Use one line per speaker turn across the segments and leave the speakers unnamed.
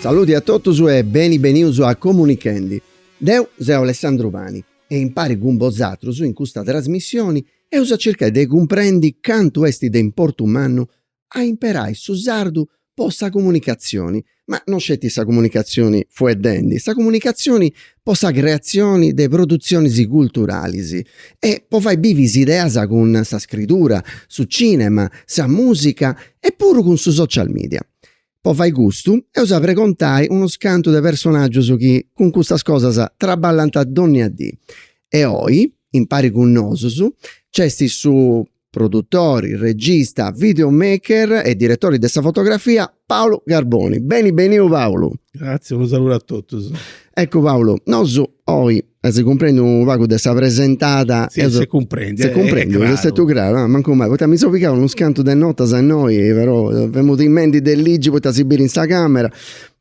Saludi a totus e beni benius a Comunichendi. Deu seu Alessandru Pani. E impari cun bozatrus in custa trasmissioni eus a circai de cumprendi cantu esti de importu mannu a imperai su sardu po sa comunicazioni, ma no sceti sa comunicazioni fueddendi, sa comunicazioni po sa creazioni de produzionis culturalis e po fai bivi s'ideas cun sa scridura, su cinema, sa musica e puru cun su social media. Po fai custu, eus a pregontai unus cantu de personàgius chi cun custas cosas traballant dònnia dì. E oi, impari cun nosus, nc'est su produtori, regista, video maker e diretori de sa fotografia Paulu Carboni. Beni beniu Paulu! Gratzias, unu saludu a totus. Eccu Paulu, nosu oi E s'est cumprendiu unu pagu de sa presentada. Si, si cumprendi. Si cumprendi, est stetiu craru. Ah, mancu mai, poita mi seu pigau unus cantu de notas innoi, però femu timendi de ligi poita si biri in sa camera,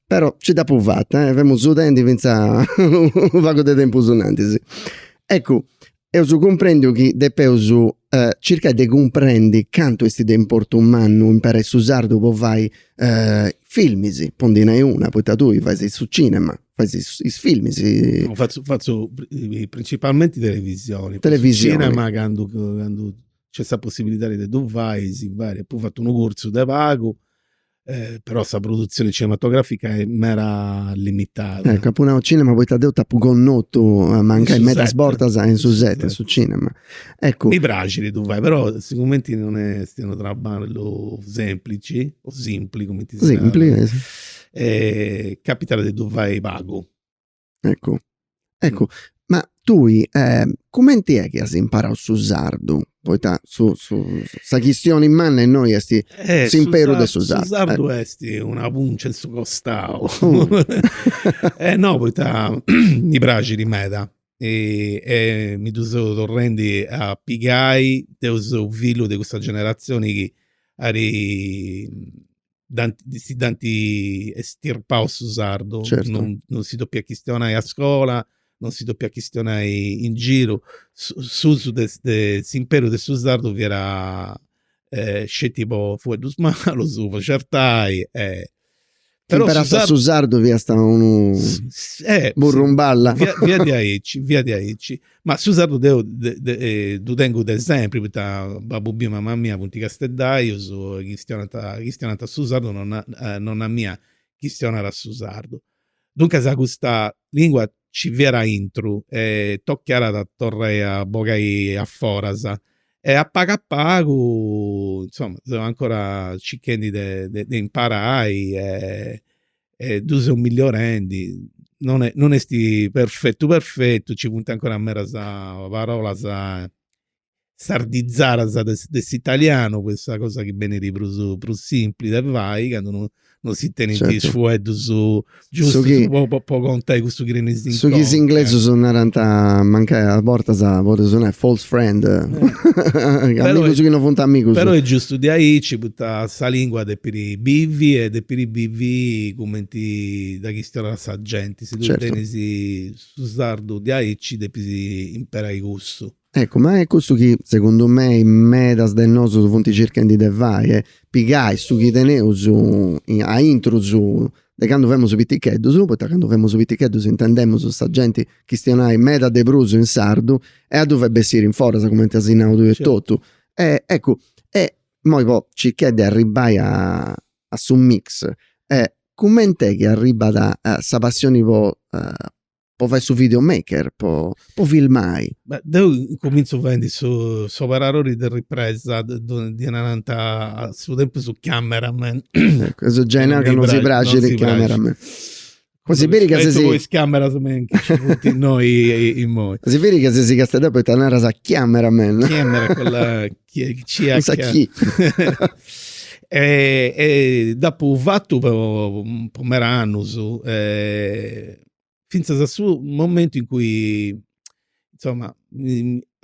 però nci dd'apu fata, eh. Femu sudendi finzas unu pagu de tempus in antis. Eccu, eus cumprendiu chi depeus circai de cumprendi cantu esti de importu mannu imperai su sardu po fai filmis, po ndi nai una, poita tui faisi su cinema. fais is filmis. Fatzu fatzu principalmenti televisioni. Televisioni. Su cinema candu candu nc'est sa possibilidadi de ddu fai si fait, apu fatu unu curtzu de pagu, però sa produtzioni cinematografica est meda limitada. Eccu, apu nau cinema poita deu t'apu connotu mancai medas bortas in su set, in su cinema. Eccu. Mi praxit de ddu fai, però sigumenti non est unu trabballu semplici, o simpli cumenti si narat. Simpli. capitat de ddu fai pagu. Eccu, eccu, ma tui cumenti est chi as imparau su sardu, poita su su sa chistioni manna innoi est s'imperu de su sardu. Su sardu est una pùncia in su costau, e no poita mi praxit meda e mi ddu seu torrendi a pigai, deu seu fillu de cussa generatzioni chi at dd'ant estirpau su sardu, non si podiat chistionai a scola, non si podiat chistionai in giru, s'usu de s'imperu de su sardu fiat sceti po fueddus malus, po certai e. Si imperàst su sardu fiast unu burrumballa. Fiat diaici, fiat diaici Ma su sardu deu ddu tengu de sempri, poita babbu miu e mama mia funt casteddaius e chistionant chistionant su sardu, nonna nonna mia chistionat su sardu. Duncas custa lingua nci fiat aintru e tocàt a torrai a bogai a foras. E a pagu a pagu, insoma, seu ancora circhendi de de imparai e e ddu seus melliorendi, non est non est perfetu perfetu, nci funt ancora medas parolas sardizadas de s'italianu, po sa cosa chi benit prus prus simpli de fai, candu no no si tenint is fueddus giustus po contai cussu chi tenis in conca. Su chi is inglesus narant mancai a bortas podit sonai false friend, amigus chi no funt amigus. Però est giustu diaici, poita sa lingua depit Bivi e depiri bivi cumenti dda chistionat sa genti, si tui tenis su sardu diaici depis imperai cussu. Eccu, ma est cussu chi segundu mei medas de nosu funt circhendi de fai, e pigai su chi teneus aintru de candu femus piticheddus, poita candu femus piticheddus intendemus sa genti chistionai meda de prus in sardu e a ddu fai bessiri in foras, cumenti as nau tui etotu. Eccu, e Immoi po circai de arribbai a a su mix e cumenti est chi arribbat sa passioni po po fai su video maker po po filmai? Beh deu incuminzu fendi su s'operarori de ripresa ddi narant a su tempus camera man. Eccu, gei apu nau ca non si praxit camera man. Quando si veri ca si voi schiamera su men che ci punti noi in moi. Si veri ca si ses casteddaiu poita naras chiamera men. Chiamera con la chi ci ha. Sa chi. e, e dopo apu fatu po, po meda annus, eh, finzas a su momentu in cui, insomma,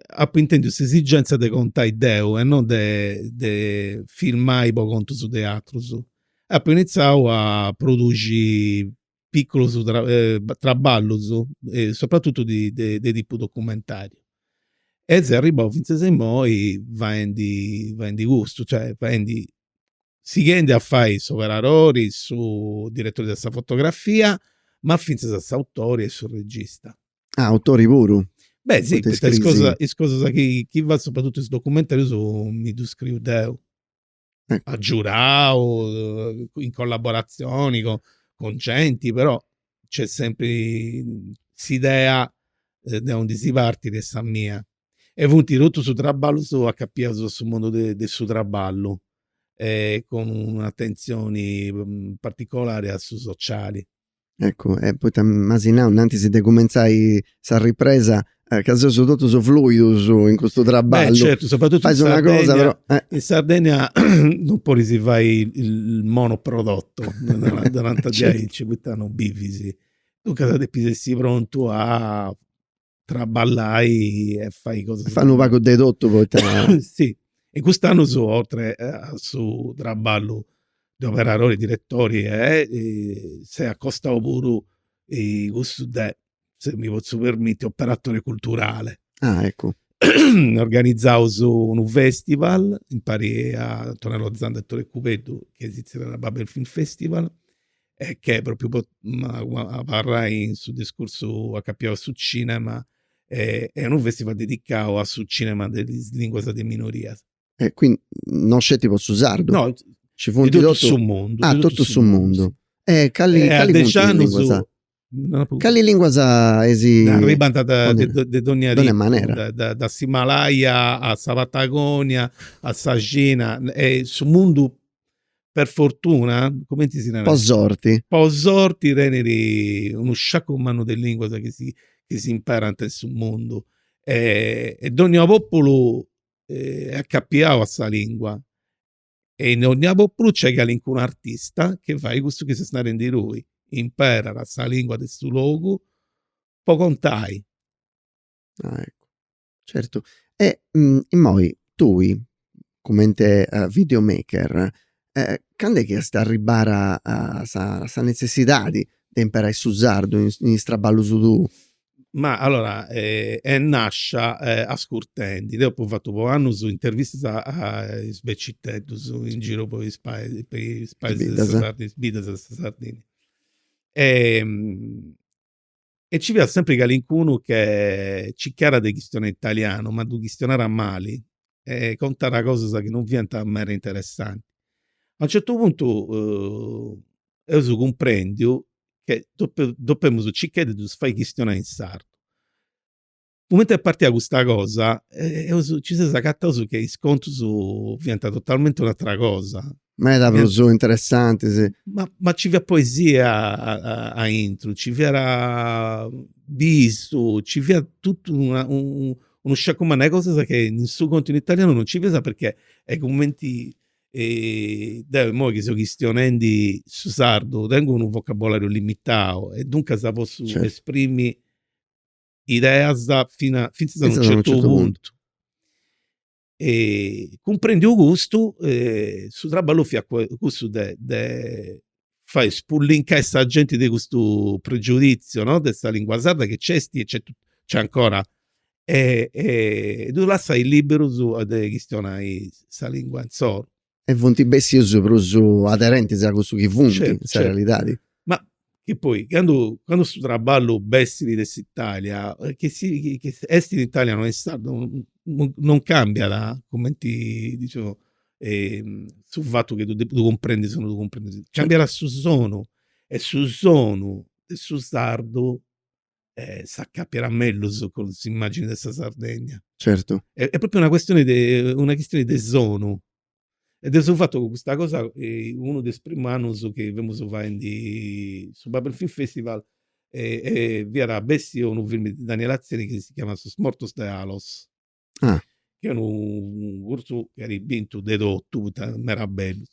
apo intendiu s'esigenza de contai deu e non de, de filmai po contus de atrus. Apo initzau a produxi piculus traballus e sopratutu de de tipu documentariu e seu arribau fintzas a immoi faendi faendi custu, cioè faendi sighendi a fai s'operarori, su diretori de sa fotografia, ma fintzas a s'autori e su regista. Ah autori puru? Beh si, poita is cosas is cosas chi chi fatzu, sopratutu is documentarius mi ddu scriu deu eh. agiudau, in collaboratzioni co cun genti, però nc'est sempri s'idea de undi si partit est sa mia e funt totus traballus acapiaus a su mundu de de su traballu e cun un'atentzioni particolari a su sociali Eccu, e poita m'asi nau innantis de cumentzai sa ripresa ca seus totus fluidus in custu traballu. Beh certu, sopratutu in Sardegna, in Sardegna non podis fai il monoprodotto, ddi nant diaici, poita non bivis, duncas depis essi prontu a traballai e fai cosa. Fai unu pagu de totu poita. si. E cust'annu seu oltre a su traballu de operadori, diretori s'est acostau puru cussu de, se mi potzu permitti, operatore culturale. Ah eccu. Organizaus unu festival impari a Antonello Zanda e Tore Cubeddu chi si zerriat Babel Film Festival e che propriu, po abarrai in su discursu acapiau a su cinema est unu festival dedicau a su cinema de is linguas de minorias. E quindi no sceti po su sardu? No, ci funt de totu su mundu. Ah, totu su mundu. E cali cali funt is linguas? Cali linguas eisi? Arribant da de dogna logu. Dogna manera. Da s'Himalaia a sa Patagonia, a sa Cina, e su mundu per fortuna, cumenti si narat? Po sorti. Po sorti tenit unu sciacu mannu de linguas chi si chi s'imparant in su mundu e dogna populu est acapiau a sa lingua e in dogna populu nc'est calincunu artista chi fait cussu chi ses narendi tui, imperat sa lingua de su logu po contai. Ah eccu, certu. E immoi tui cumenti video maker candu est chi est arribbada sa sa netzessidadi de imperai su sardu in is traballus tuus? Ma allora est nascia ascurtendi, deu apu fatu po annus intervistas a is beciteddus in giru po is pais po is paises de sa is biddas de sa Sardigna. E ci fiat sempri calincunu che circàt de chistionai in italianu, ma ddu chistionàt mali e contàt cosas chi non fiant meda interessanti. A unu certu puntu eus cumprendiu che depemus circai de ddus fai chistionai in sardu. Cumenti est partia custa cosa, eus, si seus acataus che is contus fiant totalmenti un'atera cosa. Meda prus interessantis. Ma ma nci fiat poesia aintru, nci fiat bistu, nci fiat totu una unu sciacu mannu de cosas che in su contu in italianu non nci fiat perchè est cumenti deu immoi chi seu chistionendi su sardu tengu unu vocabolariu limitau e duncas potzu esprimi ideas fina fintzas a unu certu puntu. Cumprendiu custu su traballu fiat cussu de fai spullincai sa genti de custu pregiudizio no de sa lingua sarda chi nc'esti e c'è c'è ancora e e ddu lassai liberus a de chistionai sa lingua insoru. E funti bessius prus aderentis a cussu chi funti in sa realidadi. Ma chi poi candu candu su trabballu bessit de s'Italia chi si chi esti in italianu o in sardu non cambiada cumenti diciamo e su fatu chi ddu cumprendis o no ddu cumprendis, cambiada su sonu e su sonu de su sardu s'acapiat mellus cun s'immagini de sa Sardegna. Certu. Est propriu una custioni de, una chistioni de sonu e de su fatu chi custa cosa unu de is primu annus chi femus faendi su Babel Film Festival fiat bessiu unu filmu de Daniel Atzeni chi si chiamat Sos mortos de Alos Ah. Chi è unu curtzu chi iat bintu de totu, poita meda bellu.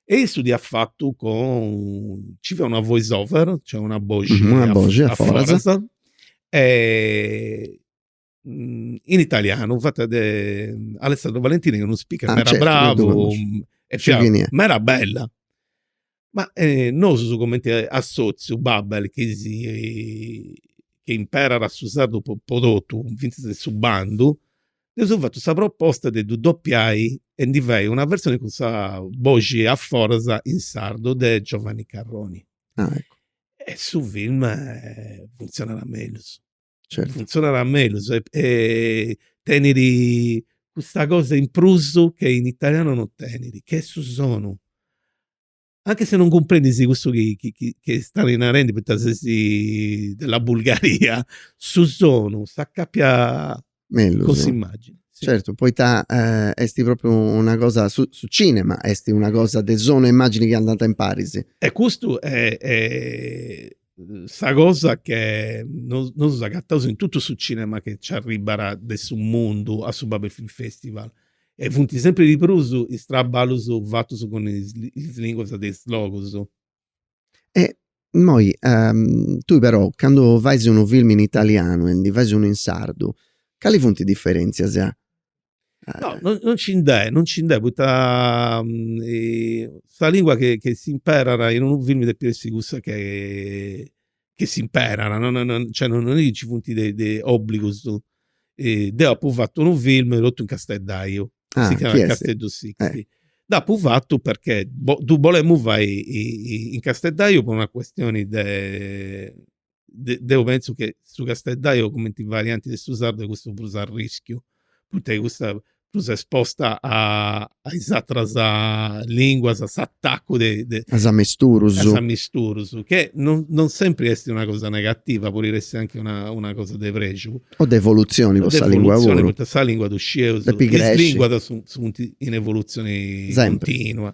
E issu dd'iat fatu cun, ci fiat una voice over, cioè una boxi a foras, e in italianu, fata de Alessandro Valentini, chi est unu speaker meda bravu, e fiat meda bella. Ma nosu cumenti assotziu Babel chi si chi imperat su sardu po po totu fintzas in su bandu, dd'eus fatu sa proposta de ddu dopiai e ndi fai una versioni cun sa boxi a foras in sardu de Giovanni Carroni. Ah eccu. E su film funtzionat mellus. Certu. Funtzionat mellus e e tenit custa cosa in prus che in italianu non tenit, che est su sonu. Anche se non cumprendis cussu chi chi chi chi stait narendi poita ses della Bulgaria, su sonu s'acapiat mellus cun s'immagini. Certu, poita est propriu una cosa, su su cinema est una cosa de sonu e immagini chi andant impari. E custu sa cosa che nosu, nosu agataus in totu su cinema che ci arribat de su mundu a su Babel Film Festival e funt sempri di prus is traballus fatus cun is linguas de is logus. E immoi tui però candu fais unu film in italianu e ndi fais unu in sardu, cali funt is diferentzias? No, non, non ci nd'è, non ci nd'è, poita um, sa lingua che, che si imperat in unu film depit essi cussa che, che si imperat, non, non, cioè non, non è che ci funt de, de obbligus. E deu apu fattu unu film totu in casteddaiu, ah, si chiamat Casteddu Sicsti. Eh. Dd'apu fattu perché bo, ddu bolemu fai in casteddaiu po una questioni de de, deu penso che su casteddaio commenti varianti de su sardu est cussa prus a rischiu, poita est cussa prus esposta a a is atras linguas, a s'atacu de de. A is amisturus. A is amisturus, che non non sempri esti una cosa negativa, podit essi anchi una una cosa de prexu. O de evoluzioni po sa lingua puru. Poita sa lingua ddu scieus. Depi cresci. Is linguas funt in evoluzioni continua.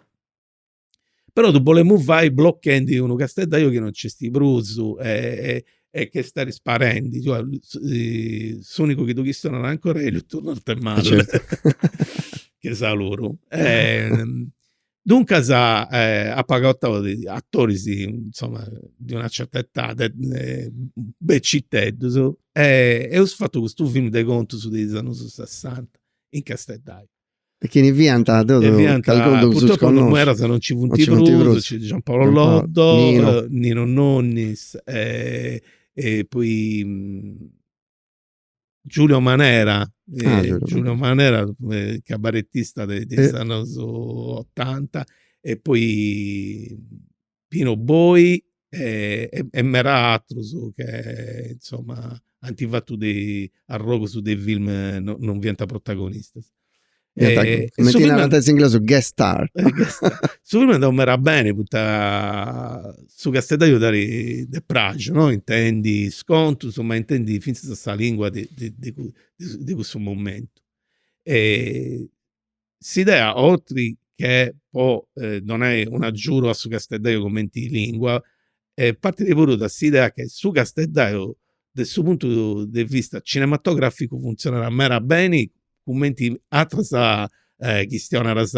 però ddu bolemus fai blochendi unu casteddaju chi non nc'esti prus e e chi est istadi sparendi, cioè s'unicu chi ddu chistionat ancora est Elio Arthemalle che saluru. Duncas apu agatau atoris insoma de una certa edadi beciteddus e eus fatu custu filmu de contus de is annus sessanta in casteddaju E chini fiant totus, e fiant, purtroppo in medas non nci funt prus, nci Gian Paolo Loddo, Nino, Nino Nonnis e e poi Giulio Manera, Giulio Manera cabaretista de is annus otanta e poi Pino Boi e meda atrus che insoma ant fatu de arrogus de film non fiant protagonistas. Cumenti narant is inglesus guest star. Su film andau meda beni poita su casteddaju dd'aradi praxu no, intendi is contus ma intendi fintzas sa lingua de cussu momentu. s'idea otri che po donai un'agiudu a su casteddaiu cumenti lingua partidi puru de s'idea che su casteddaiu de su puntu de vista cinematograficu funtzionat meda beni cumenti atras chistionadas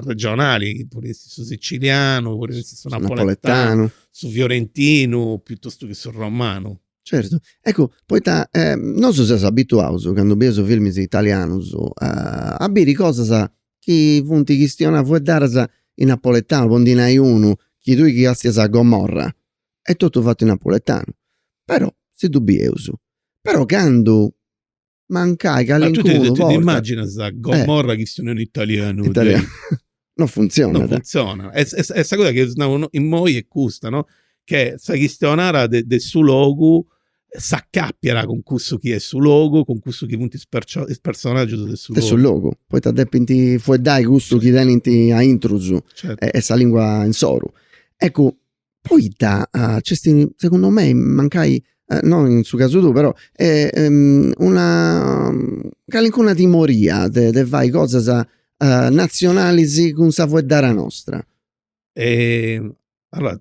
regionali chi podit essi su sicilianu, podit essi su napoletanu, su fiorentinu, piuttostu chi su romanu. Certu, eccu poita nosu seus abituaus candu bieus filmis italianus a biri cosas chi funt chistionadas fueddadas in napoletanu, po ndi nai unu, chi tui ti castias a Gomorra, est totu fatu in napoletanu, però si ddu bieus, però candu mancai calincunu porta. T'immaginas sa gomorra eh. chi sono in italiano? italiano. non funziona. Non funziona. E, e, e sa cosa che no, in moi est custa, no? Che sa chistionara de, de su logu s'accappiat cun cussu chi est su logu, cun cussu chi funt is, percio- is personaggius de su logu. De su logu. Poita depint fueddai cussu chi tenint a intrus certo. e, e sa lingua insoru. Ecco, Poita nc'est, segundu mei, mancai no in su casu tuu, però una calincuna timoria de de fai cosas natzionalis cun sa fueddara nostra? Allora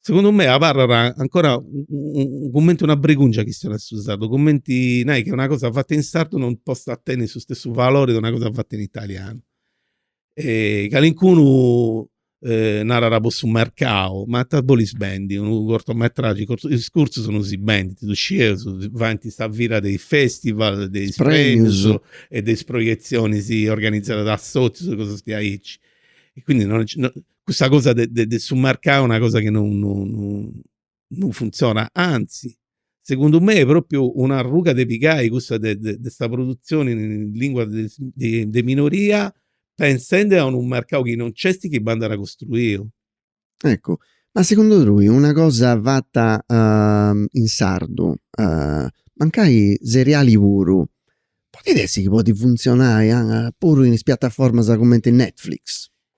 Segundu mei abarrat ancora cumenti una bregungia sa chistioni de su sardu, cumenti a nai che una cosa fatta in sardu non possa tenni su stessu valori de una cosa fatta in italianu. Calincunu narat po su mercau, ma ita bolis bendi, unu cortometraggi, is curtzus non si bendint, ddu scieus, faint sa fira de is festival, de is premius e de is proietzionis organizadas de assotzius e cosas diaici, e quindi custa cosa de de de su mercau est una cosa chi non non non funtzionat, anzi, segundu mei, propriu un'arruga de pigai custa de de de sa produtzioni in lingua de de de minoria, pensendi a unu mercau chi non nc'est chi bandat costruiu. Eccu, ma segundu tui una cosa fata in sardu, mancai seriali puru, podit essi chi podit funtzionai puru in is piataformas cumenti Netflix?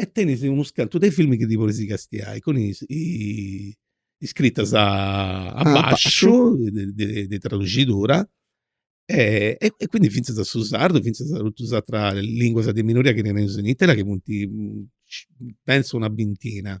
E tenis unus cantu de filmis chi ti podis castiai cun is iscritas a basciu de traduxidura e quindi fintzas a su sardu fintzas a totus is ateras linguas de minoria chi teneus in Italia chi funt pentzu una bintina.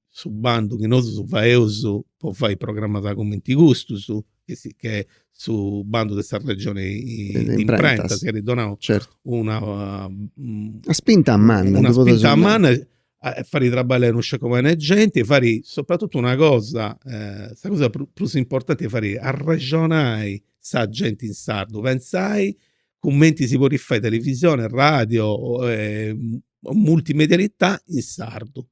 su bandu chi nosu faeus po fai programas cumenti custus, chi est su bandu de sa regioni de imprentas chi at donau una una spinta manna, una spinta manna a fai traballai non sceti a cumenti genti, fai sopratutu una cosa, sa cosa prus importanti est fai arrexonai sa genti in sardu, pentzai cumenti si podit fai televisioni, radio, multimedialità in sardu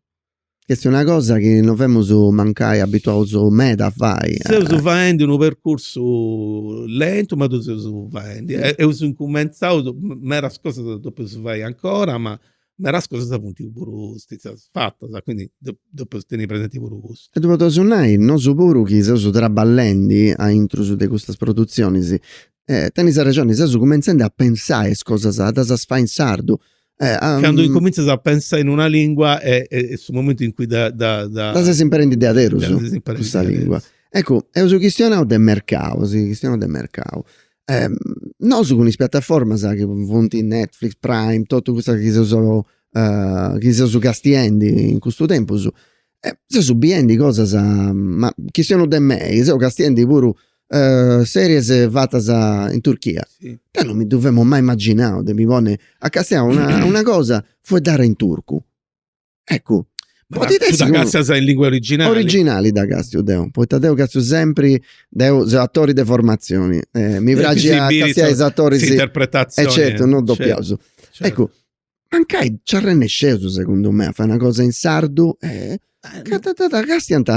Ch'est una cosa chi non femus mancai abituaus meda a fai. Seus faendi unu percursu lentu ma ddu seus faendi. Eus incumentzau, medas cosas depeus fai ancora ma medas cosas funt puru stetias fatas, quindi depeus tenni presenti puru cussu. E ddu podeus nai nosu puru chi seus traballendi aintrus de custas produtzionis. Tenis arrexoni, seus cumintzendi a pensai is cosas a ddas fai in sardu, Eh, um, Candu incumintzas a pensai in una lingua est, est, est su momentu in cui dda... dda, dda... dda ses imperendi deaderus, cussa lingua. Eccu, eus chistionau de mercau, eus chistionau de mercau. Eh, nosu cun is piattaformas chi funt Netflix, Prime, totu custas chi seus, uh, chi seus castiendi in custu tempus, E seus biendi cosas ma chi siant de mei seus castiendi puru series fatas in Turchia. Deu non mi ddu femu mai imaginau de mi ponni a castiai una una cosa fueddada in turcu. Eccu, podit essi. Ma dda castias in lingua originali? Originali dda castiu deu, poita deu castu sempri, deu seu atori de formatzioni e mi praxit a castiai is atoris. S'interpretazioni. E certu, non dopiaus. Eccu mancai nci arrennesceus segundu mei a fai una cosa in sardu castiant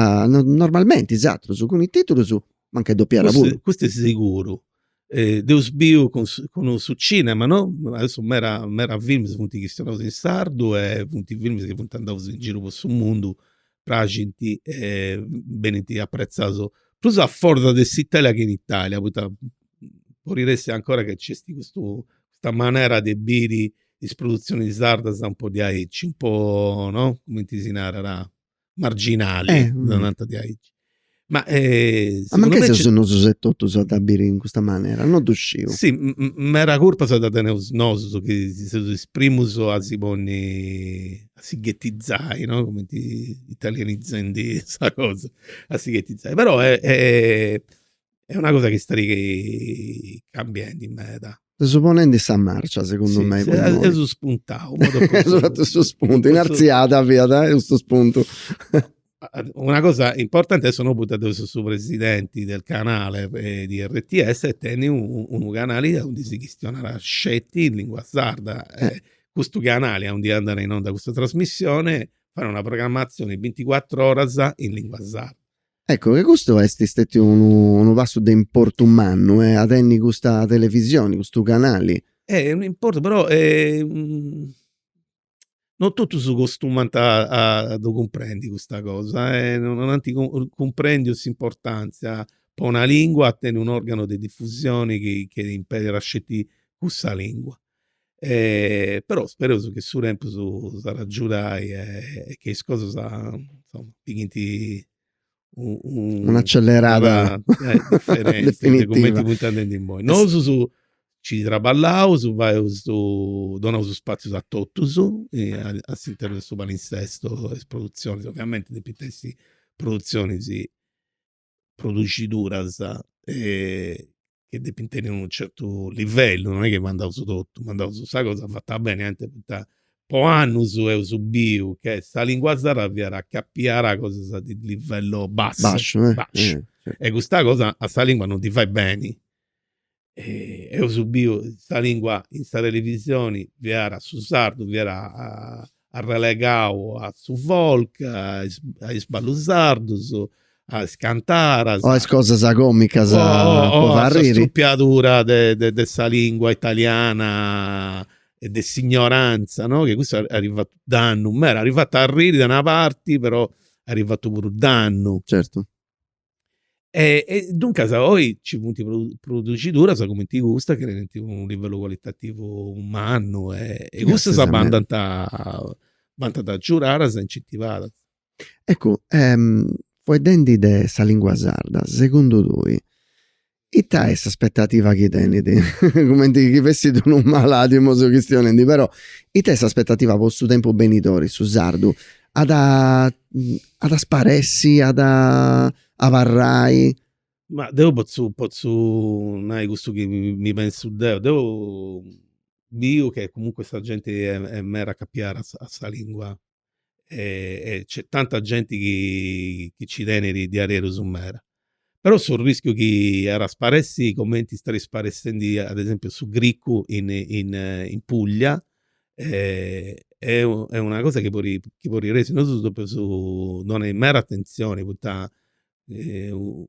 normalmenti is atrus cun is titulus mancai dopiada puru. Custu est siguru, dd'eus biu cun su cinema no, aderu meda meda films funt chistionaus in sardu e funt films chi funt andaus in giru po su mundu praxint e benint apretzados prus a foras de s'Italia che in Italia, poita parit ancora che nc'est custu custa manera de biri is produtzionis sardas un po diaici, un po no, cumenti si narat, marginali, dda nant diaici Ma segundu me. Ma mancai seus nosu etotus a dda biri in custa manera, no ddu sciu. Si, meda curpa dda teneus nosu chi seus is primus a si ponni, a si ghetizai, no, cumenti italianizendi sa cosa, a si ghetizai, però est Est una cosa chi est cambiendi meda. Seus ponendi sa marcia segundu mei. Si, seus spuntau. Seus fatu su spuntu, in artziada fiat e custu spuntu. Una cosa importanti est, no, poita deu seu su presidenti del canale di rts chi tenit unu canali aundi si chistionat sceti in lingua sarda. Custu canali aundi andat in onda custa trasmissioni fait una programmatzioni binticuatru oras in lingua sarda Ecco che custu est istetiu unu unu passu de importu mannu e a tenni custa televisioni, custu canali. Eh unu importu però non totus acostumant a ddu cumprendi custa cosa e non anti cumprendiu s'importanzia po una lingua a tenni un organo de diffusioni chi imperit sceti cussa lingua. però spereus chi su tempus s'at a giudai e che is cosas insoma pigghint un'accellerada de cumenti funt andendi imoi. Nosu nci traballaus, faeus su, donaus spaziu a totus a s'internu de su palinsesto e is produtzionis, ovviamenti depint essi produtzionis produxiduras chi depint tenni unu certu livellu, non est chi mandaus totu, mandaus sa cosa fata beni, anti poita po annus eus biu che sa lingua sarda fiat acapiada a cosas de livello bassu, basciu, e custa cosa a sa lingua non ddi fait beni eus biu sa lingua in sa televisioni fiat su sardu fiat arrelegau a su folk a is ballus sardus a is cantaras o a is cosas comicas po arriri o a sa strupiadura de sa lingua italiana e de s'ignoranza no chi custu at fatu dannu meda at fatu arriri de una parti però at fatu puru dannu E duncas oi nci funt produxiduras cumenti custa chi tenint unu livellu cualitativu mannu e custas bandant bandant agiudadas e incentivadas. Eccu fueddendi de sa lingua sarda, segundu tui, Ita est s'aspetativa chi tenit? Cumenti chi fessit unu malàdiu seu chistionendi però ita est s'aspetativa po su tempus benidori, su sardu at a at a sparessi, at a abarrai? Ma deu potzu potzu nai custu chi mi pensu deu, deu biu che comunque sa genti est meda acapiada a sa lingua e nc'est tanta genti chi nci tenit diaderus meda. Però su rischiu chi at a sparessi cumenti est sparessendi ad esempiu su gricu in in Puglia est una cosa chi podit essi. Nosu depeus donai meda atentzioni poita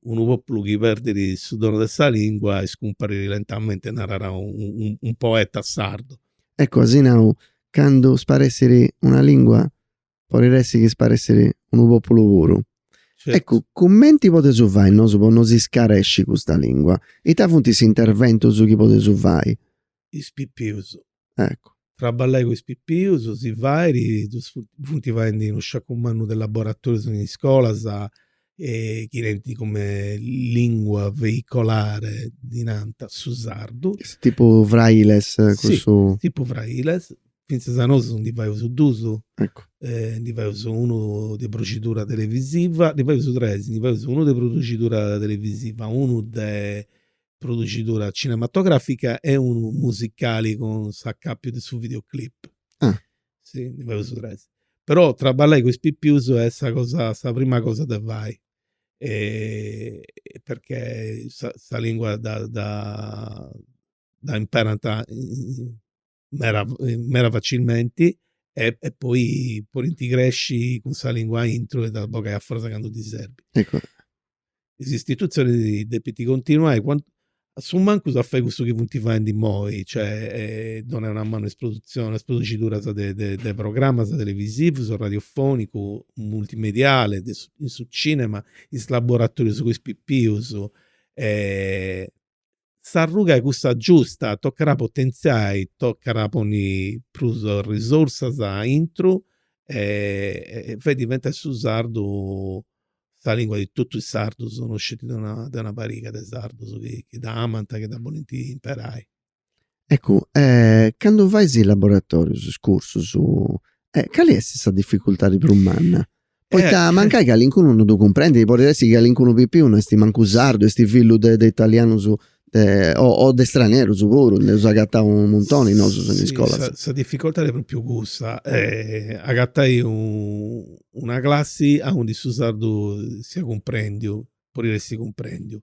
unu populu chi perdit su donu de sa lingua iscumparit lentamente narat unu poeta sardu. Eccu as nau candu sparessit una lingua podit essi chi sparessit unu populu puru. Eccu cumenti podeus fai nosu po no si scaresci custa lingua? Ita funt is interventus chi podeus fai is pipius. Eccu. Traballai cun is pipius si fait, ddus funt faendi unu sciacu mannu de laboratorius in iscolas e chi tenint cumente lingua veicolare, ddi nant, su sardu. Est tipu frailes cussu? Si, tipu frailes, fintzas a nosu ndi faius dus. Eccu. Ndi faius unu de producidura televisiva, ndi faius tres, ndi faius unu de producidura televisiva, unu de producidura cinematogràfica e unu musicali cun s'acàpiu de su videoclip. Ah. Si, ndi fadeus tres. Però traballai cun is pipius est sa cosa, sa prima cosa de fai. perchè sa sa lingua dda dda imparant in meda meda facilmenti e e poi podint cresci cun sa lingua aintru e dda bogai a foras candu ddi serbit. Is istitutzionis depint continuai a su mancus a fai cussu chi funt faindi immoi, cioè donai una manu a is produtzionis a is produciduras de de de programas televisivus o radiofonicu multimediale de su in su cinema is laboratorius po is pipius s'arruga est cussa giusta, tocat a potentziai, tocat a ponni prus risorsas aintru e fai diventai su sardu sa lingua de totus is sardus, no sceti de una pariga de sardus chi dd'amant, chi dda bolint imperai. Eccu, candu fais is laboratorius, is cursus, cali est sa dificultadi prus manna? Poita mancai calincunu non ddu cumprendit, podit essi chi calincunu pipiu no est mancu sardu, est fillu de de italianus de o de stranerus puru, nd'eus agatau u' muntoni nosu in iscola. Sì, sa dificultadi est propriu cussa, agatai una classi aundi su sardu siat cumprendiu, po essi cumprèndiu.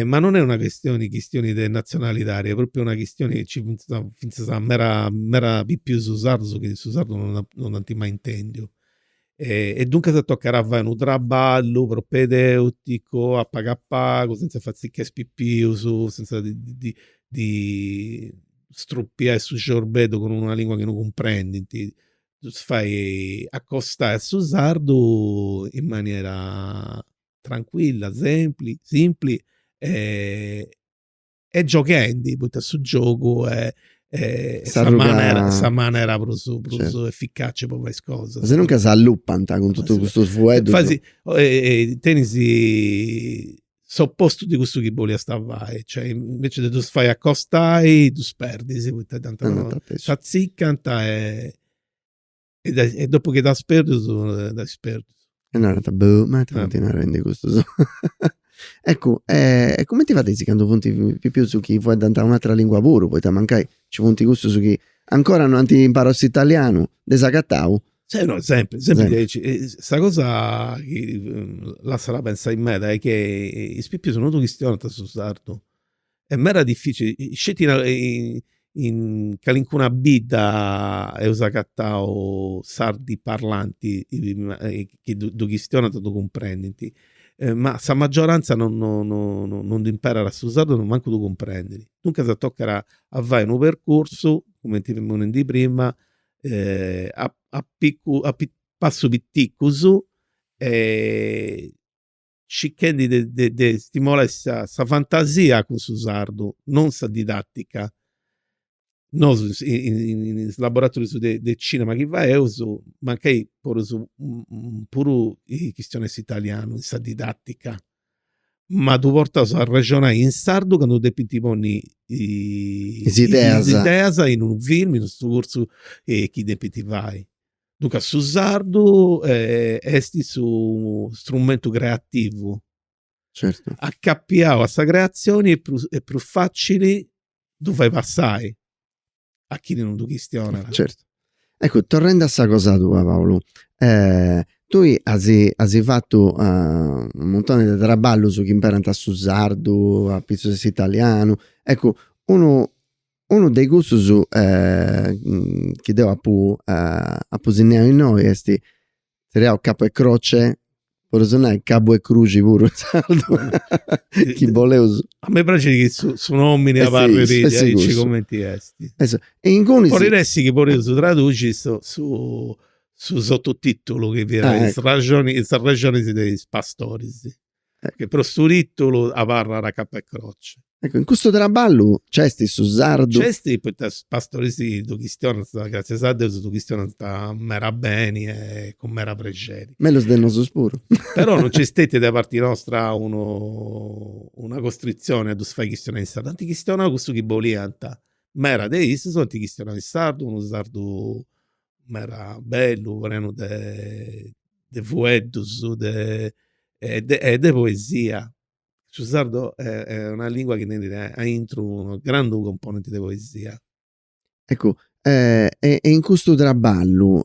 Ma non est una chistioni chistioni de natzionalidadi, est pròpriu una chistioni chi nci fintzas fintzas a mera mera pipius sardus chi su sardu non non dd'ant mai intèndiu. E duncas tocat a fai unu traballu propedèuticu a pagu a pagu, sentza fai chi is pipius, sentza ddi ddi ddi strupiai su ciorbeddu cun una lingua chi non cumprendint. ddus fait acostai a su sardu in manera trancuilla, sempli, simpli e e gioghendi poita su giogu est sa manera sa manera prus prus efficaci po fai is cosas. Asinuncas s'allupant cun totu custus fueddus. Tenis s'opostu de cussu chi boliast fai, cioè invece de ddus fai acostai ddus perdis poita t'atzicant e e dopu chi d'as perdus dd'as perdus. E narant, boh, ma ita funt narendi custus. Eccu, e cumenti fadeis candu funt pipius chi fueddant un'atera lingua puru, poita mancai nci funt cussus chi ancora no ant imparau s'italianu, de s'agatau, Sì, no, sempri, sempri sempri diaici. E Sa cosa chi mm, lassat a pensai meda est chi is pipius non ddu chistionant su sardu. Est meda dificili, sceti in a- in calincuna bidda eus agatau sardi parlanti chi ddu chistionant e ddu cumprendint. Ma sa maggioranza non non non dd'imperat su sardu e mancu ddu cumprendit. Duncas tocat a fai unu percursu, cumenti femus nendi prima, a picu a passus piticus e circhendi de stimolai sa fantasia cun su sardu, non sa didatica. Nosu in is laboratorius de cinema chi faeus mancai podeus puru chistionai s'italianu in sa didatica ma ddus portaus a arrexonai in sardu candu depint ponni is ideas in unu film, in unu curtzu chi depint fai. Duncas su sardu est su strumentu creativu, acapiau a sa creatzioni est prus facili ddu fai passai. a chini non ddu chistionat. Certu. Eccu, torrendi a sa cosa tua Paulu, tui asi asi fatu unu muntoni de traballus chi imperant su sardu, apitzus 'e s'italianu, eccu, unu unu de cussus chi deu apu apu sinnau innoi esti, triau Capu e croce, podus nai cabu 'e cruxi puru in sardu, chi boleus. A mei praxit chi su su nomini abarrat aici cumenti est. E ingunis. Podit essi chi podeus traduxi su su su sototitulu chi fiat is raxonis is rexonis de is pastoris. Però su titulu abarrat Capo e croce. Ecco, in custu traballu nc'est su sardu. Nc'est poita is pastoris ddu chistionant, gràtzias a Deus, ddu chistionant meda beni e cun meda prexeri. Mellus de nosus puru. Però non nc'est stetia de parti nostra unu una costritzioni a ddus fai chistionai in sardu. Ant chistionau cussu chi boliant. Meda de issus ant chistionau in sardu, unu sardu meda bellu, prenu de de fueddus de e de poesia. Su sardu est una lingua chi tenit aintru unu grandu componenti de poesia. Eccu e e in custu traballu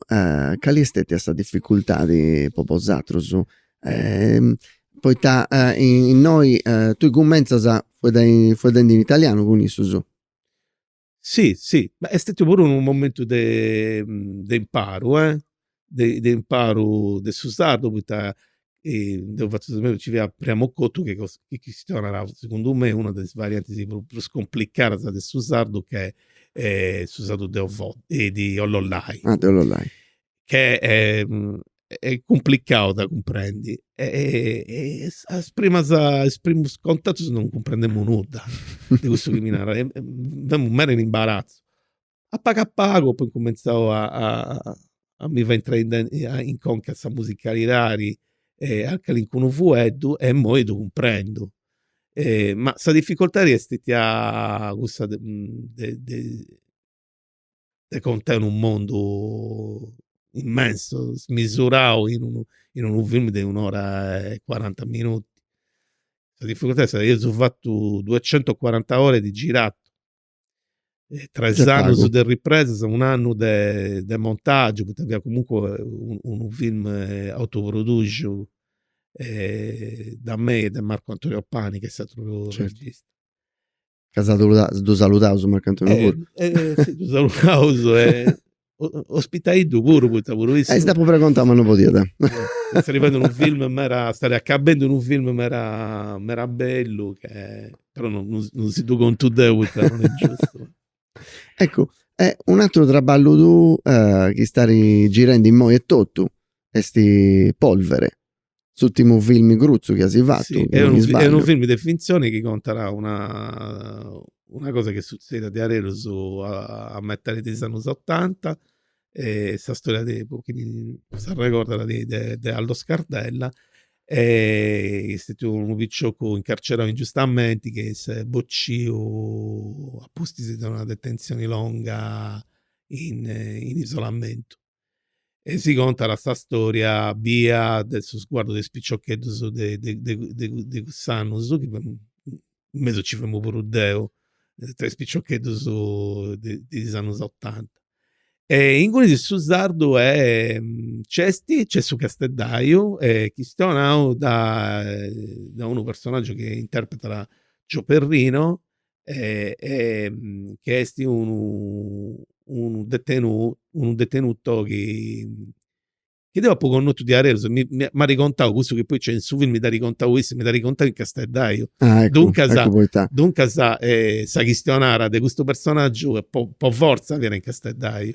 cali est stetia sa dificultadi po bosaterus? Poita innoi tui cummentzas fueddendi in italianu cun issus. Si si, ma est stetiu puru unu momentu de de imparu eh, de imparu de su sardu poita deu fatzu su meu, ci fiat Priamu Cottu chi chi chistionat segundu me una de is variantis prus complicadas de su sardu ch'est su sardu de Ollolai. Ah de Ollolai che è è cumplicau de cumprendi e a is primas a is primus contatus non cumprendemu nudda de cussu chi mi naràt e femu meda in imbaratzu. A pagu a pagu apu incumentzau a a mi fai intrai in conca sa musicalidadi e a calincunu fueddu e immoi ddu cumprendu. Ma sa dificoltadi est stetia cussa de de de contai unu mondu immensu, smisurau in unu in unu film de un'ora e cuaranta minuti. Sa difficultadi est sa, eus fatu duecentocuaranta ore di girato, tres annus de ripresas, un'annu de de montagiu, poita fiat comunque unu unu film autoproduxiu de mei e de Marco Antonio Pani, ch'est s'atru regista. Ca sa ddu saludaus Marcantoni puru. Eh si ddu saludaus e ospitaiddu puru poita puru issu. Eh si dd'apu pregontau ma no podiat. Sta arrivendi unu film meda, stari acabendi unu film meda meda bellu che però no no si ddu contu deu poita non est giustu. Eccu e un'ateru traballu tuu chi stari girendi immoi etotu esti Polvere. S'ultimu filmi grutzu chi eus fatu, si non mi sbagliu. Est unu filmi de fintzioni chi contat una cosa chi est sutzèida diaderus a metadi de is annus otanta, sa storia de, po chini s'arregordat, de Aldo Scardella, chi est stetiu unu picioccu incarcerau ingiustamenti, chi s'est bociu apustis de una detentzioni longa in isolamentu. e si contat sa storia bista de su sguardu de is piciocheddus de de de cuss'annus, chi in mesu nci femu puru deu, tra is piciocheddus de de is annus otanta. E inguni su sardu est, nc'est, nc'est su casteddaiu e chistionau dae unu personaggiu chi interpretat Joe Perrino e chi esti unu unu detenu unu detenuto chi chi deu apu connotu diaderus, mi m'at contau cussu chi poi nc'est in su film, mi dd'at contau issu, mi dd'at contau in Casteddaiu, duncas duncas sa chistionara de custu personaggiu po po fortza fiat in Casteddaiu.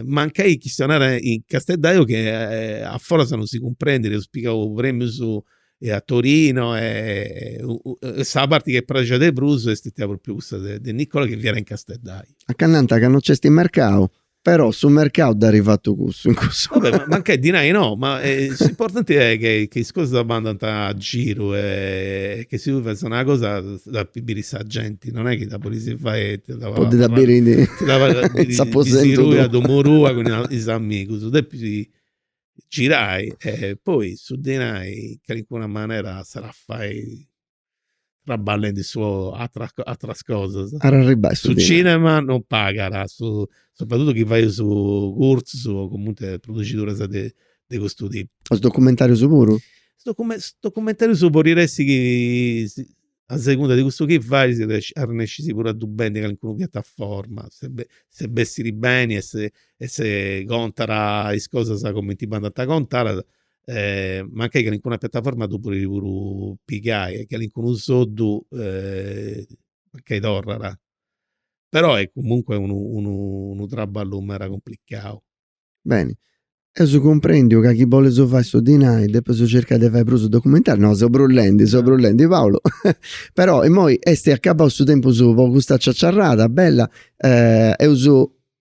Mancai chistionara in casteddaiu chi a foras non si cumprendit, eus pigau premius a Torino e sa parti chi est praxia de prus est stetia propriu cussa de Nicola chi fiat in casteddaiu. Anca nant ca non nc'est mercau, però su mercau dd'at fatu cussu in cussu. Va bè, mancai dinai no, ma s'importanti est che is cosas bandant a giru e che si tui fais una cosa dda depit biri sa genti non è chi dda podis fai sceti po dda biri a domo tua cun is amigus, depis girai e poi su dinai calincuna manera s'at a fai traballendi su atras atras cosas at a arribai su cinema non pagat su sopratuttu chi fai is curtzus o comunque produxiduras de de custu tipu. Is documentarius puru? Is documentarius podit essi chi a segunda de cussu chi fais si arrennescis puru a ddu bendi a calincuna piataforma, se bessit beni e se e se contat is cosas cumenti bandant contadas, mancai calincuna piataforma ddu podit puru pigai e calincunu soddu mancai torrat. Però est comunque unu unu traballu meda cumplicau. Beni, eus cumprèndiu ca chi bolis fai su dinai depis circai de fai prus documentarius, no, seu brullendi, seu brullendi Paolo, però imoi est acabau su tempus po custa ciaciarrada bella, eus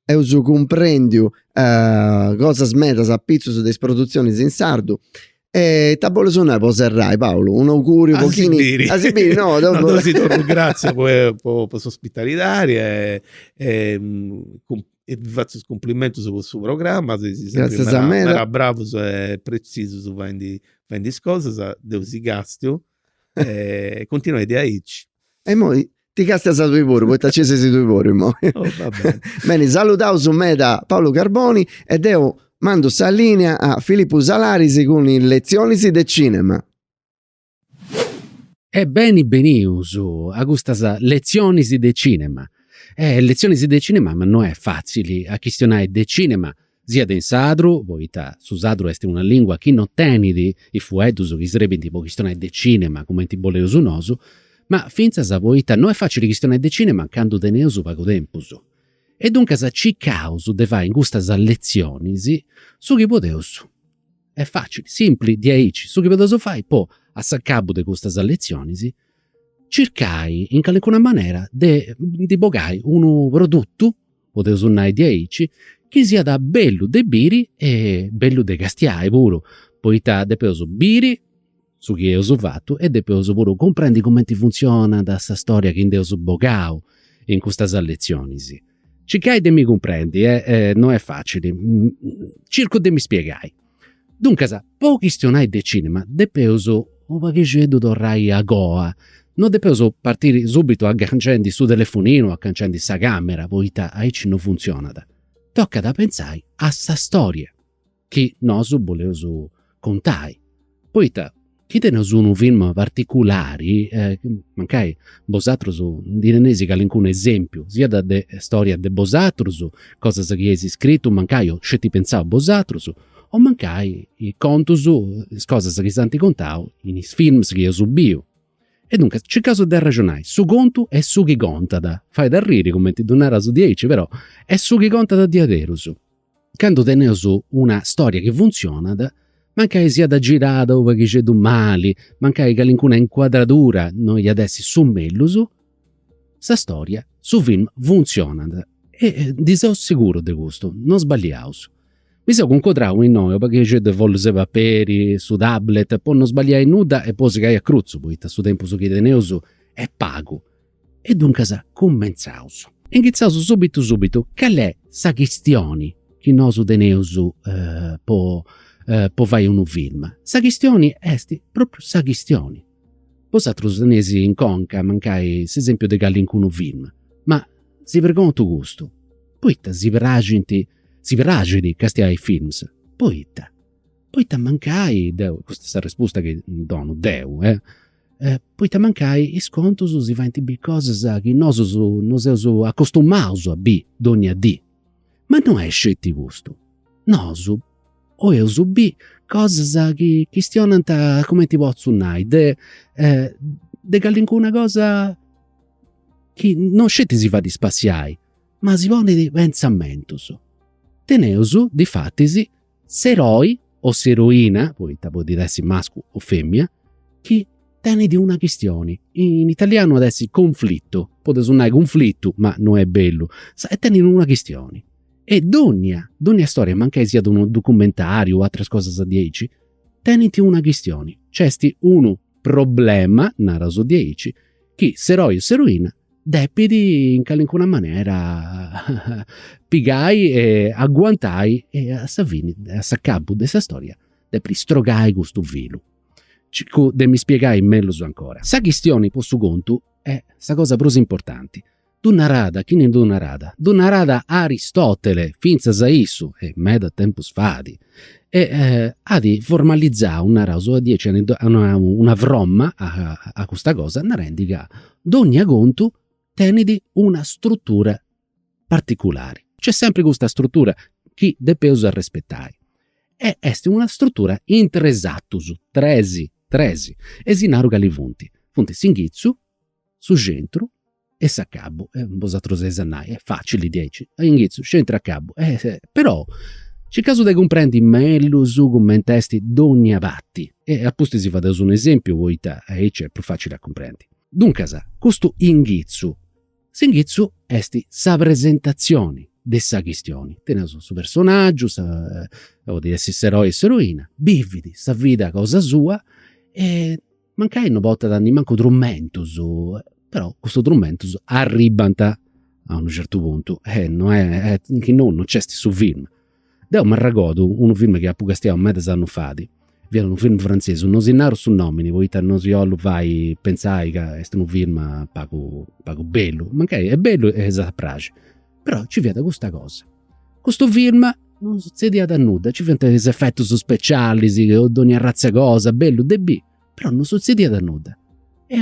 eus cumprèndiu cosas medas apitzus de is produtzionis in sardu e ita, bolis nai po serrai Paolo, un'auguriu po chini. A si biri. A si biri, no. No, deu si torru gratzias po s'ospitalidadi e E si fatzu is cumplimentus po su programma, seis sempri meda meda bravus e pretzisus faendi faendi is cosas, deu si castiu e continuai diaici. E imoi ti castias tui puru poita ci seis tui puru imoi. Oh va beni. Beni, saludaus meda Paulu Carboni e deu mandu sa linea a Filippu Salaris cun is lezionis de cinema. E beni benius a custas letzionis de cinema. E letzionis de cinema ma no est fatzili a chistionai de cinema, siat in sardu, poita su sardu est una lingua chi no tenit is fueddus chi srebint po chistionai de cinema cumenti boleus nosu, ma fintzas poita no est fatzili chistionai de cinema candu teneus pagu tempus. E duncas circaus de fai in custas letzionis su chi podeus. Est facili, simpli, diaici. Su chi podeus fai po a s'acabu de custas letzionis circai in calincuna manera de ndi bogai unu produtu, podeus nai diaici, chi siat bellu de biri e bellu de castiai puru, poita depeus biri su chi eus fatu e depeus puru cumprendi cumenti funtzionat sa storia chi nd'eus bogau in custas letzionis. Circai de mi cumprendi no est facili, circu de mi spiegai. Duncas, po chistionai de cinema depeus u' paghixeddu torrai a goa, no depeus partiri subitu aganciendi su telefoninu o aganciendi sa camera, poita aici no funtzionat. Tocat a pentzai a sa storia. chi nosu boleus contai, poita chi teneus unu film particulari, mancai bosatrus ndi teneis calincunu esempiu, siat de storia de bosatrus, cosas chi eis scritu mancai o sceti pentzau bosatrus, o mancai is contus, is cosas chi s'ant contau in is films chi eus biu. E duncas circaus de arrexonai, su contu est su chi contat, fait arriri cumenti ddu naras diaici però est su chi contat diaderus Candu teneus una storia chi funtzionat, mancai siat girada u' paghixeddu mali, mancai calincuna incuadradura no iat essi su mellus, sa storia, su film funtzionat. E ndi seus segurus de custu, no sballiaus. Mi seu cuncodrau innoi u' paghixeddu 'e follus 'e paperi, su tablet, po no sballiai nudda e po segai a crutzu, poita su tempus chi teneus est pagu E duncas cumentzaus. Inghitzaus subitu subitu, cali est sa chistioni chi nosu teneus po po fai unu film? Sa chistioni est propriu sa chistioni. Bosatrus teneis in conca mancai s'esempiu de calincunu film, ma si preguntu custu, poita si praxint, si praxit castiai films? Poita? Poita mancai deu, custa est sa respusta chi donu deu, poita mancai is contus si faint biri cosas chi nosus non seus acostumaus a biri dónnia dì. Ma no est sceti custu. Nosu 'oiaus biri cosas chi chistionant, cumenti potzu nai, de de calincuna cosa chi non sceti si fait spassiai, ma si ponit pentzamentus. Teneus difatis S'eroi o s'eroina, poita podit essi mascu o fèmina, chi tenit una chistioni, in italianu at essi conflittu, podeus nai cunflitu ma no est bellu, e tenit una chistioni. E dònnia, dònnia storia, mancai siat unu documentariu o ateras cosas diaici, tenint una chistioni, nc'est unu problema, naraus diaici, chi s'eroi o s'eroina depit in calincuna manera pigai e aguantai e a sa fini, a s'acabu de sa storia, depit istrogai custu filu. Circu de mi spiegai mellus ancora. Sa chistioni po su contu est sa cosa prus importanti. Ddu narat, chini ddu narat? Ddu narat Aristotele, fintzas a issu, e meda tempus fait, e at formalizau, naraus diaici, at donau una fromma a custa cosa narendi ca dònnia contu tenit una strutura particulari. Nc'est sempri custa strutura chi depeus arrespetai. E est una strutura in tres atus, tres, tres. E si naru cali funt, funt s'inghitzu, su centru e s'acabu, e bosatrus eis a nai, est facili diaici, inghitzu, centru e acabu, però circaus de cumprendi mellus cumenti est donnia parti e apustis si fadeus un esempiu poita aici est prus facili a cumprendi. Duncas, custu inghitzu, s'inghitzu est sa presentazioni de sa chistioni, teneus su personaggiu, podit essi s'eroi o s'eroina, bivit sa vida cosa sua e Mancai no portat nimancu trumentus, però custus trumentus arribbant a unu certu puntu e no est, chi no no nc'est su film. Deu m'arregordu unu film chi apu castiau medas annus fait, fiat unu film frantzesu, no si naru su nomini poita no si 'ollu fai pentzai ca est unu film pagu pagu bellu, mancai est bellu e s'at a praxi, però nci fiat custa cosa Custu film non sutzediat nudda, nci fiant is efetus specialis, dogna arratza 'e cosa, bellu de biri, però non sutzediat nudda. E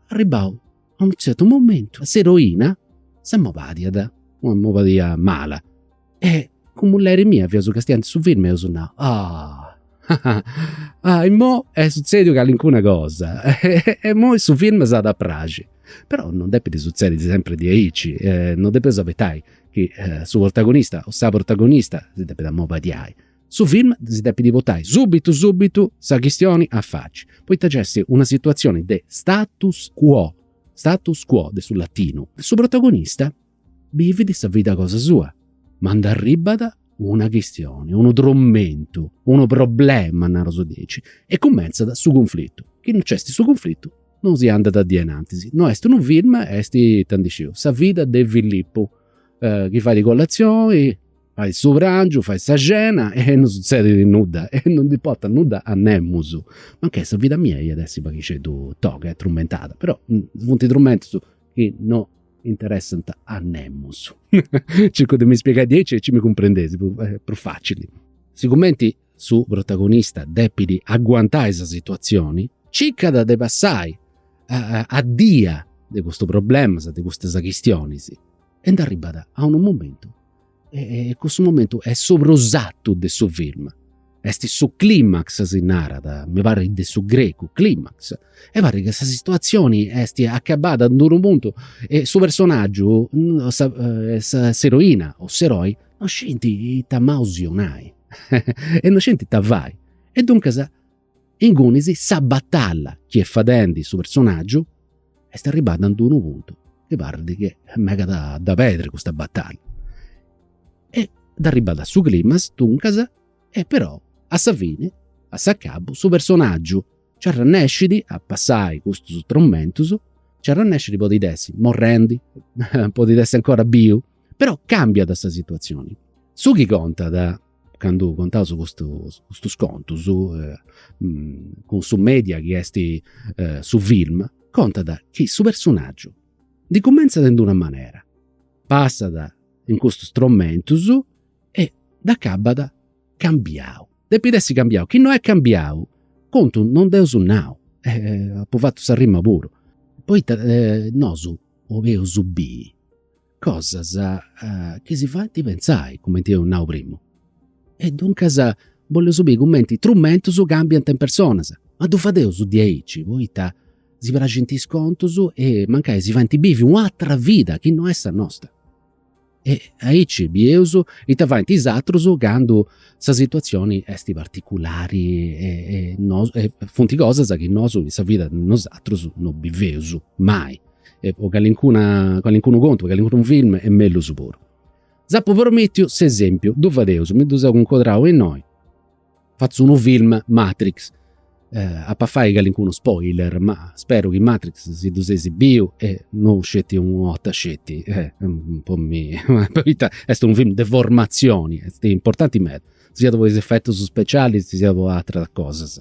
arribau a unu tzertu momentu s'eroina s'amobadiàt, una mobadia mala e cun mulleri mia fiaus castiendi su film e eus nau, ah ah, imoi est sutzèdiu calincuna cosa e, imoi su film s'at a praxi. Però non depit sutzedi sempre di aici, eh, non depeus abetai chi eh, su protagonista o sa protagonista si depit ammobadiai. Su film si depit botai subitu subitu sa chistioni a faci, poita nc'est una situazioni de status quo, status quo de su latinu. Su protagonista bivit sa vida cosa sua, ma nd'arribat una chistioni, unu trumentu, unu problema, naraus diaici, e cumentzat su cunflitu. Chi no nc'est su cunflitu non si andat a innantis. No est unu film, est, ita ndi sciu, sa vida de Filippu, chi fait colatzioni, fait su prangiu, fait sa cena e non sutzedit nudda e non nd'importat nudda a nemus. Mancai sa vida mia iat essi pagheddu toga e trumentada, però funt trumentus chi no interessant a nemus. Circu de mi spiegai diaici aici mi cumprendeis eh, prus facili. Sigumenti su protagonista depit aguantai sa situazioni, circat de passai a, a dia de custus problemas, de custas chistionis, e nd'arribat a unu momentu E, e cussu momentu est su prus atu de su film. Est su climax, si narat, mi parit de su grecu, climax. E parit ca sa situazioni est acabada in d'unu puntu e su personaggiu, sa, eh, sa, s'eroina o s'eroi, non scint ita manu si donai. e non scint ita fai. E duncas, Ingunis sa batalla chi est fadendi su personaggiu est arribada in unu puntu chi parrit chi est megat de pedri custa batalla. E est arribada a su climax, duncas, e però a sa fini, a s'acabu, su personaggiu nci arrennescit a passai custus tromentus, nci arrennescit podit essi morrendi, podit essi 'ncora biu, però cambiat sa situazioni. Su chi contat candu contaus custus contus cun su media chi est su film, contat chi su personaggiu ndi cumentzat in d'una manera, passat in custus tromentus e dd'acabat cambiau. Depit essi cambiau, chi no est cambiau contu non nd'eus nau e apu fatu sa rima puru. Poita nosu 'oleus biri Cosas chi si faint pentzai, cumenti eus nau primu. E duncas bolleus biri cumenti trumentus cambiant is personas. Ma ddu fadeus diaici, poita si praxint is contus e mancai si faint bivi u' atera vida chi no est sa nosta. E aici bieus ita faint is atrus candu sa situazioni est particulari e funt cosas chi nosu in sa vida de nosatrus no biveus mai e po calincuna, calincunu contu, po calincunu film e mellus puru. S'apu promìtiu s'esempiu, ddu fadeus, mi ddu seu cuncodrau innoi, fatzu unu film Matrix, apu a fai calincunu spoiler ma speru chi Matrix si ddu seis biu e no sceti una 'orta sceti po mi poita est unu film de formatzioni, est importanti meda, siat po is efetus specialis siat po ateras cosas.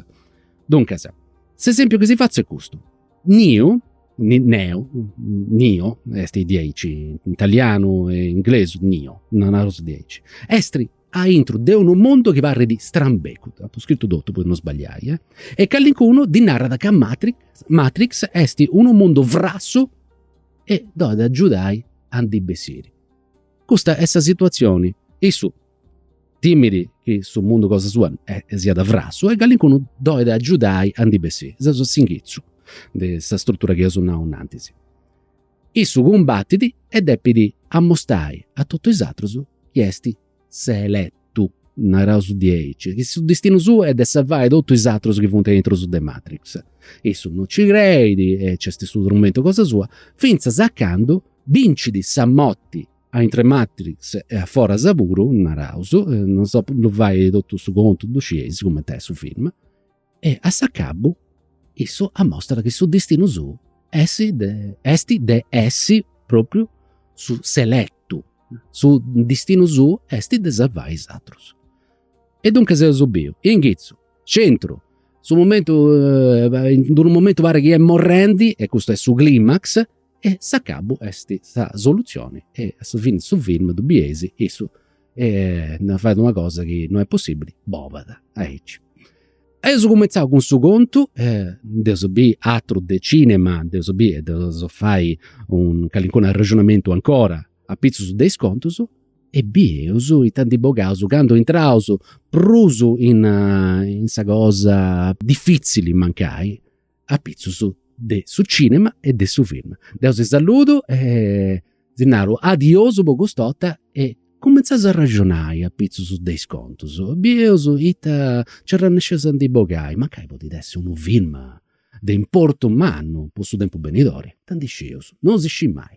Duncas, s'esempiu chi si fatzu est custu, Niu, Neo, Nio, est diaici, in italianu e inglesu, Nio, naraus diaici, est a intru de unu mundu chi parrit strambecu, apu scritu totu po no sbagliai, eh, e calincunu ddi narat ca Matrix, Matrix est unu mundu frassu e dd'olit agiudai a ndi bessiri. Custa est sa situazioni, issu timit chi su mundu cosa sua eh, siat frassu e calincunu dd'olit agiudai a ndi bessiri. Seus a s'inghitzu de sa strutura chi eus nau innantis. Issu cumbatit e depit amostrai a totu is atrus chi est s'eletu, naraus diaici, chi su distinu suu est de sarvai totu is atrus chi funt aintru de Matrix. Issu non ci creit e nc'est su trumentu cosa sua, fintzas a candu bincit sa morti aintru Matrix e a foras puru, naraus, eh, non si ddu fatzu totu su contu, ddu scieis cumenti est su film, e a s'acabu issu amostra chi su distinu suu est de essi propriu s'eletu, su distinu suu est de sarvai is atrus. E duncas eus biu, inghitzu, centru, su momentu, in d'unu momentu parit chi est morrendi e custu est su climax E s'acabu est sa solutzioni e a su fini su film ddu bieis issu fait una cosa chi no est possibili, bolat aici. Eus cumenzau cun su contu, nd'eus biri atru de cinema, nd'eus biri e nd'eus fai un calincunu arrexonamentu ancora apitzus de is contus e bieus ita ndi bogaus, candu intraus prus in sa cosa difitzili mancai apitzus de su cinema e de su film. Deu si saludu e si naru adiosu po cust'orta e cumentzaus a arraxonai apitzus de is contus. Bieus ita nci arrennesceus a ndi bogai, mancai podit essi unu film de importu mannu po su tempus benidori, tanti scieus, non si scit mai.